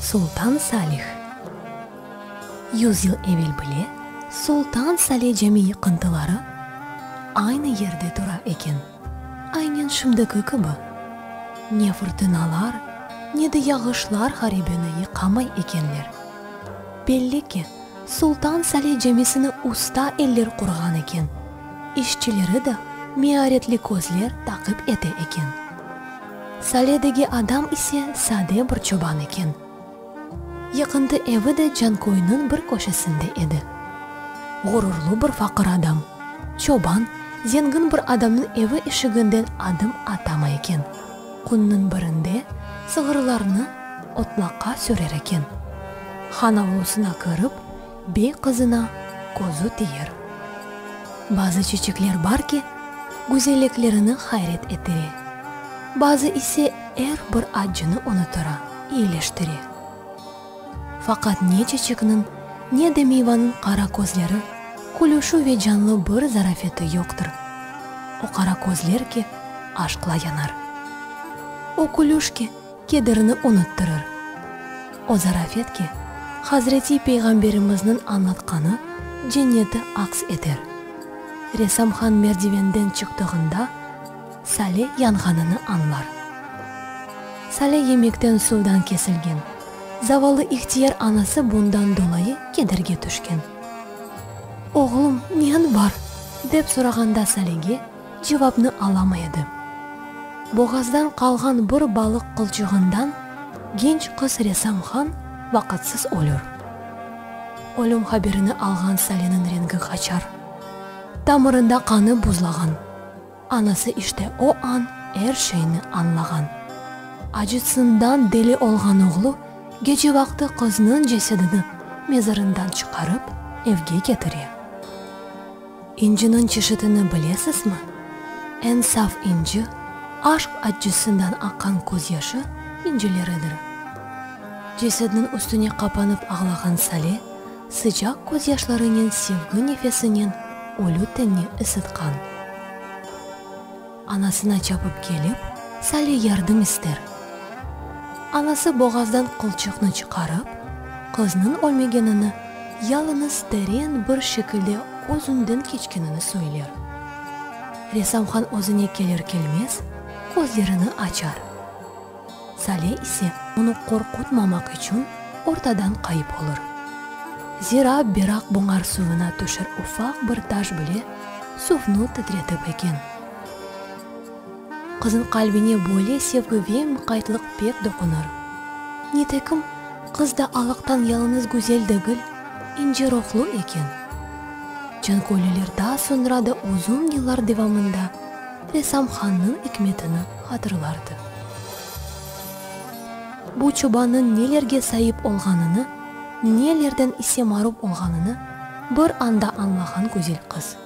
Sultan Salih Yüz yıl evel bile Sultan Salih Cami yıqıntıları aynı yerde tura eken, aynen şimdiki kibi. Ne fırtınalar, ne de yağışlar haribeni yıqamay ekenler. Belli ki, Sultan Salih Camisini usta eller qurğan eken, işçileri de mearetli közler taqip ete eken. Saledegi adam ise sade bir çoban eken. Yaqında evi de Canköyniñ bir köşesinde edi. Ğururlı bir faqır adam, çoban, zengin bir adamnıñ evi eşiginden adım atamay eken. Künniñ birinde sığırlarnı otlaqqa sürer eken. Han avlusına kirip, Bey qızına közü tiyir. Bazı çeçekler bar ki, güzelliklerini hayret ettire, bazı ise er bir accını unutura, iyileştire. Faqat ne çeçekniñ, ne de miyvanıñ qara közleri, külüşü ve canlı bir zarafeti yoqtır. O qara közler ki, aşqla yanar. O külüş ki, kederini unuttırır. O zaraf et ki, Hazreti Peyğamberimizniñ añlatqanı cenneti aks eter. Resamhan merdivenden çıqtığında sale yanğanını añlar. Sale yemekten suvdan kesilgen. Zavalı ihtiyar anası bundan dolayı kederge tüşken. Oğlum, neñ bar? dep sorağanda Salege, Cevapnı alamay edi. Boğazdan qalğan bir balıq qılçığından genç qız Resam Han vaqıtsız ölür. Ölüm haberini alğan Saleniñ rengi qaçar. Tamırında qanı buzlağan. Anası işte o an er şeyni añlağan. Acıtsından deli olğan oğlu gece vaqtı qıznıñ cesedini mezarından çıqarıp evge ketire. İnciniñ çeşitini bilesizmi? Eñ saf inci, aşq accısından aqqan közyaşı incileridir. Cesedniñ üstüne qapanıp ağlağan Sale, sıcaq közyaşlarınen sevgi nefesinen ölü tenni ısıtqan. Anasına çapıp kelip, Sale yardım ister. Anası boğazdan qılçıqnı çıqarıp, qıznıñ ölmegenini, yalıñız teren bir şekilde özünden keçkenini söyler. Resamhan özüne kelir-kelmez, közlerini açar. Sale ise onı qorqutmamaq içün ortadan qayıp olur. Zira Beraq buñar suvına tüşer ufaq bir taş bile suvnı titretip eken. Qızın qalbine böyle sevgi ve muqaytlıq pek doqunır. Nitekim, qız da alıqtan yalıñız güzel degil, ince ruhlu eken. Canköylüler daa soñra da uzun yıllar devamında, Ressam hannıñ ikmetini hatırlardı. Bu çobannıñ nelerge saip olğanını, nelerden ise marum olğanını bir anda añlağan güzel qız.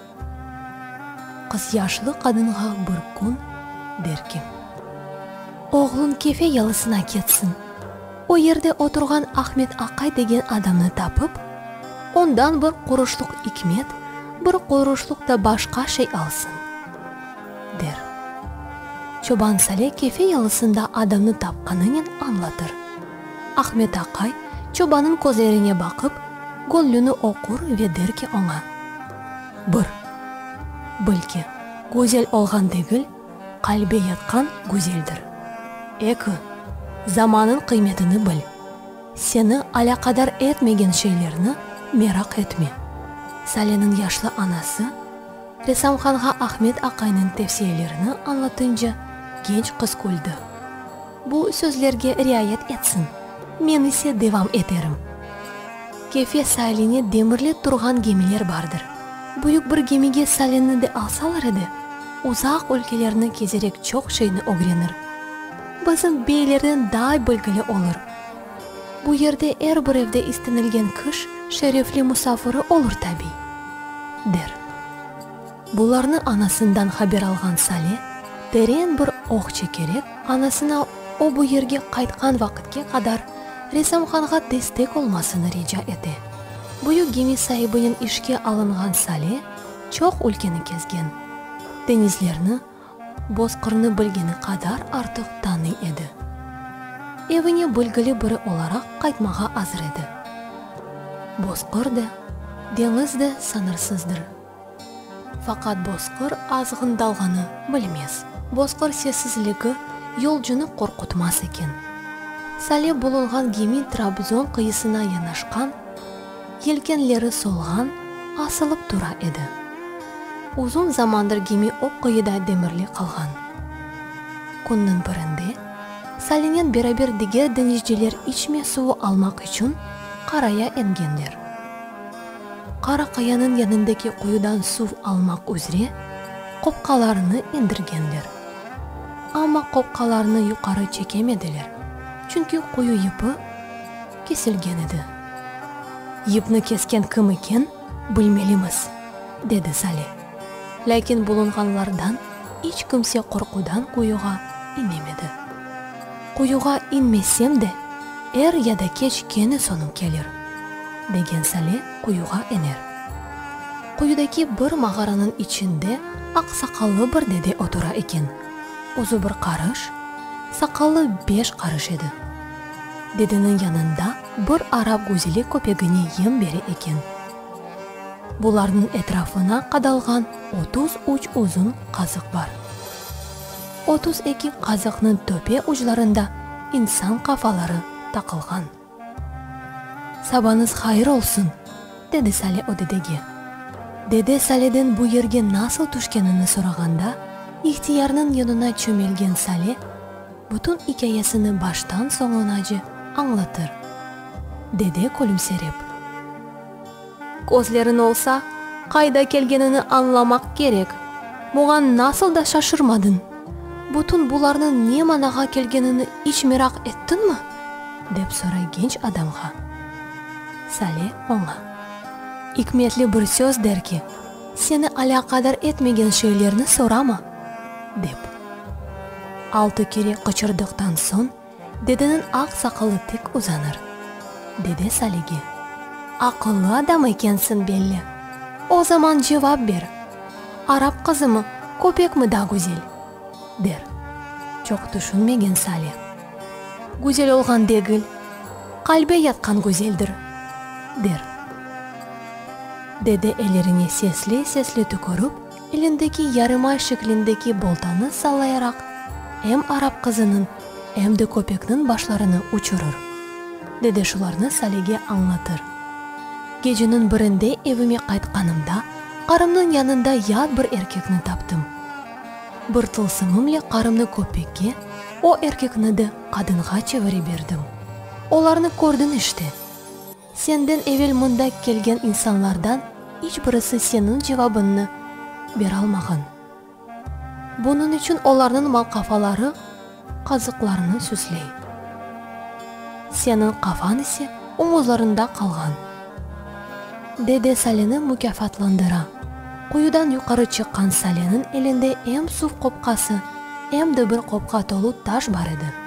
Qızyaşlı qadınğa bir kün der ki, Oğluñ Kefe yalısına ketsin! O yerde oturğan Ahmet aqay degen adamnı tapıp, ondan bir quruşluq ikmet, bir quruşluq da başqa şey alsın, der. Çoban Sale Kefe yalısında adamnı tapqanınen añlatır. Ahmet aqay çobanıñ közlerine baqıp, gönlüni oqur ve der ki oña, Bir. Belki, güzel olğan degil, Qalbe yatqan güzeldir. Eki, zamanın qıymetini bil. Seni alâqadar etmegen şeylerni meraq etme. Saleniñ yaşlı anası, ressamhanğa Ahmet aqayniñ tevsiyelerini añlatınca genç qız küldi. Bu sözlerge riayet etsin. Men ise devam eterim. Kefe sailine demirlep turğan gemiler bardır. Büyük bir gemige salinni de alsalar edi, uzaq ülkelerni kezerek çoq şeyni ögrenir. Bizim beylerden daa bilgili olur. Bu yerde er bir evde istenilgen kış şerefli musafiri olur tabiy, der. Bularnı anasından haber alğan Sale teren bir oh çekerek, anasına o bu yerge qaytqan vaqıtke qadar Resamhanğa destek olmasını rica ete. Büyük gemi saibinen işke alınğan Sale çoq ülkeni kezgen, denizlerni, Bozqırnı bilgeni qadar artıq tanıy edi. Evine bilgili biri olaraq qaytmağa azır edi. Bozqır da, deñiz de sañırsızdır. Faqat bozqır azğın dalğanı bilmez. Bozqır sessizligi yolcunı qorqutmaz eken. Sale bulunğan gemi Trabzon qıyısına yanaşqan, yelkenleri solğan, asılıp tura edi. Uzun zamandır gemi o qıyıda demirli qalğan. Künniñ birinde Salenen beraber diger deñizciler içme suvu almaq içün qaraya engenler. Qara qayanıñ yanındaki quyudan suv almaq üzre qopqalarını indirgenler. Amma qopqalarını yuqarı çekemediler, çünki quyu yıpı kesilgen edi. Yıpnı kesken kim eken, bilmelimiz, dedi Saleh. Lâkin bulunğanlardan iç kimse qorqudan quyuğa inemedi. Quyuğa inmesem de, er ya da keç kene soñum kelir, degen Sale quyuğa iner. Quyudaki bir mağaranıñ içinde aq saqallı bir dede otura eken, uzı bir qarış, saqalı beş qarış edi. Dedeniñ yanında bir arap güzeli köpegine yem bere eken. Bularnıñ etrafına qadalğan otuz üç uzun qazıq bar. Otuz eki qazıqnıñ töpe uclarında insan qafaları taqılğan. Sabañız hayır olsun, dedi Sale o dedege. Dede Saleden bu yerge nasıl tüşkenini sorağanda, ihtiyarnıñ yonuna çömelgen Sale bütün ikâyesini baştan soñunace añlatır. Dede külümserep. Közlerin olsa, qayda kelgenini añlamaq kerek. Buñan nasıl da şaşırmadıñ? Bütün bularnıñ ne manağa kelgenini iç meraq ettiñmi? dep soray genç adamğa. Sale oña. İkmetli bir söz der ki, seni alâqadar etmegen şeylerni sorama, dep. Altı kere qıçırdıqtan soñ, Dedeniñ aq saqalı tik uzanır. Dede Salige, Aqıllı adam ekensiñ belli. O zaman cevap ber, Arap qızımı, köpekmi da güzel? der. Çoq tüşünmegen Sale, Güzel olğan degil, qalbe yatqan güzeldir, der. Dede ellerine sesli-sesli tükürip. Elindeki yarımay şeklindeki boltanı sallayaraq, em arap qızınıñ, em de köpekniñ başlarını uçurır. Dede şularnı Salege añlatır. Geceniñ birinde evime qaytqanımda, qarımnıñ yanında yat bir erkekni taptım. Bir tılsımımle qarımnı köpekke, o erkekni de qadınğa çevire berdim. Olarnı kördiñ işte. Senden evel mında kelgen insanlardan iç birisi seniñ cevabınnı beralmağan. Bunıñ içün olarnıñ malqafaları qazıqlarını süsley. Seniñ qafañ ise omuzlarında qalğan. Dede Saleni mukâfatlandıra. Quyudan yuqarı çıqqan Saleniñ elinde em suv qopqası, em de bir qopqa tolu taş bar edi.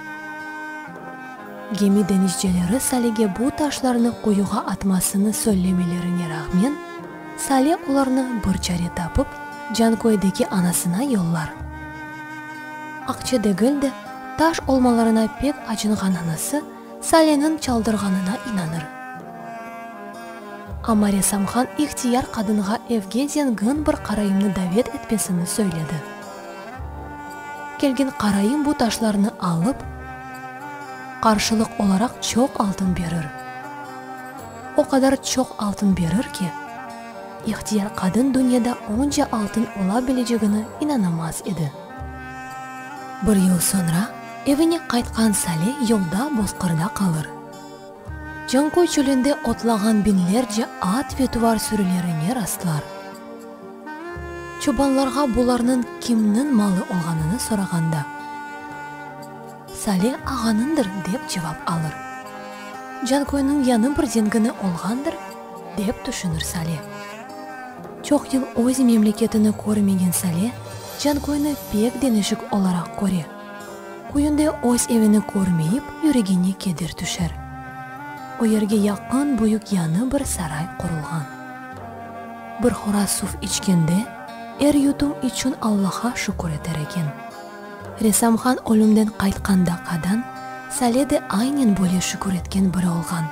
Gemi denizceleri Salege bu taşlarnı quyuğa atmasını söylemelerine rağmen, Sale olarnı bir çare tapıp, Canköydeki anasına yollar. Akçe degil de, taş olmalarına pek acınğan anası Saleniñ çaldırğanına inanır. Amma ressamhan ihtiyar qadınğa evge zengin bir qarayımnı davet etmesini söyledi. Kelgin qarayım bu taşlarnı alıp, qarşılıq olaraq çoq altın berir. O qadar çoq altın berir ki, ihtiyar qadın dünyada onca altın ola bilecegini inanamaz edi. Bir yıl soñra evine qaytqan Sale yolda bozqırda qalır. Canköy çölünde otlağan biñlerce at ve tuvar sürülerine rastlar. Çobanlarğa bularnıñ kimniñ malı olğanını sorağanda, Sale ağanıñdır, dep cevap alır. Canköyniñ yañı bir zengini olğandır, dep tüşünir Sale. Çoq yıl öz memleketini körmegen Sale Canköyni pek deñişik olaraq köre. Köyünde öz evini körmeyip, yüregine keder tüşer. O yerge yaqın büyük yanı bir saray qurulğan. Bir horaz suv içkende, er yutum içün Allaha şükür eter eken. Resamhan ölümden qaytqanda qadan Sale de aynen böyle şükür etken biri olğan.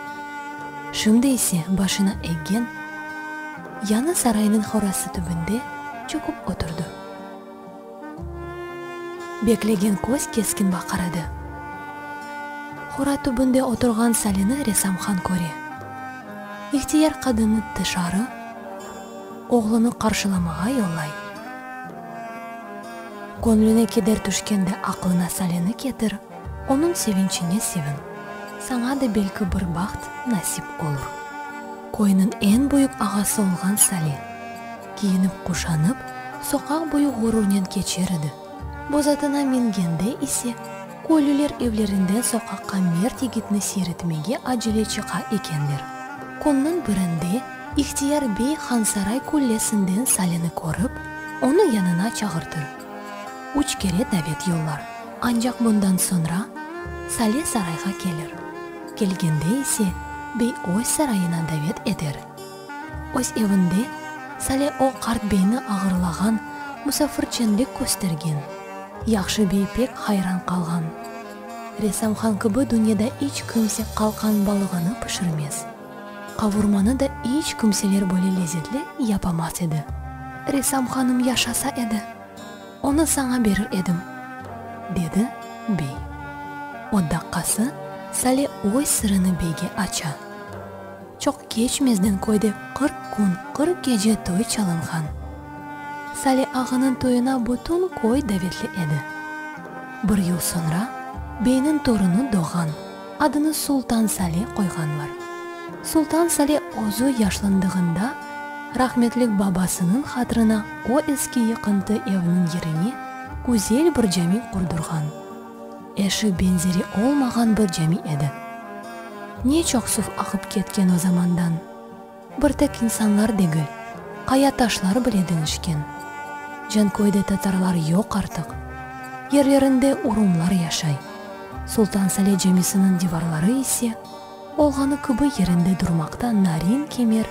Şimdi ise başına eggen yanı saraynıñ horazsı tübünde çökip oturdı. Beklegen köz keskin baqırıdı. Qora tübünde oturğan Salini resamhan köre. İhtiyar qadını tışarı, oğlunı qarşılamağa yollay. Köñlüne keder tüşken de aqlına Salini ketir, onıñ sevinçine sevin, saña da belki bir baht nasip olur. Köyniñ eñ büyük ağası olğan Sali. Kiyinip-quşanıp, soqaq boyu ğururnen keçer edi. Boz atına mingende ise, köylüler evlerinden soqaqqa mert yigitni seyretmege acele çıqa ekenler. Künniñ birinde İhtiyar bey Hansaray küllesinden Salini körip, onı yanına çağırtır. Üç kere davet yollar. Ancaq bundan soñra Sali sarayğa kelir. Kelgende ise, bey öz sarayına davet eder. Öz evinde Sale o qart beyni ağırlağan, musafirçenlik köstergen. Yahşı bey pek hayran qalğan. Resamhan kibi dünyada iç kimse qalqan balığını pişirmez. Qavurmanı da iç kimseler böyle lezetli yapamaz edi. Resamhanım yaşasa edi, onı saña berir edim, dedi bey. O daqqası Sale öz sırını beyge aça. Çoq keçmezden köyde qırq kün, qırq gece toy çalınğan. Sali ağanıñ toyuna bütün köy davetli edi. Bir yıl soñra beyniñ torunı doğğan, adını Sultan Sali qoyğanlar. Sultan Sali özü yaşlandığında rahmetlik babasınıñ hatırına o eski yıqıntı evniñ yerine güzel bir cami qurdurğan. Eşi benzeri olmağan bir cami edi. Ne çoq suv aqıp ketken o zamandan. Bir tek insanlar degil, qaya taşlar bile deñişken. Canköyde tatarlar yoq artıq. Yerlerinde urumlar yaşay. Sultan Sale camisiniñ divarları ise, olğanı kibi yerinde durmaqta narin kemer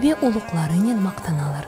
ve uluqlarınen maqtanalar.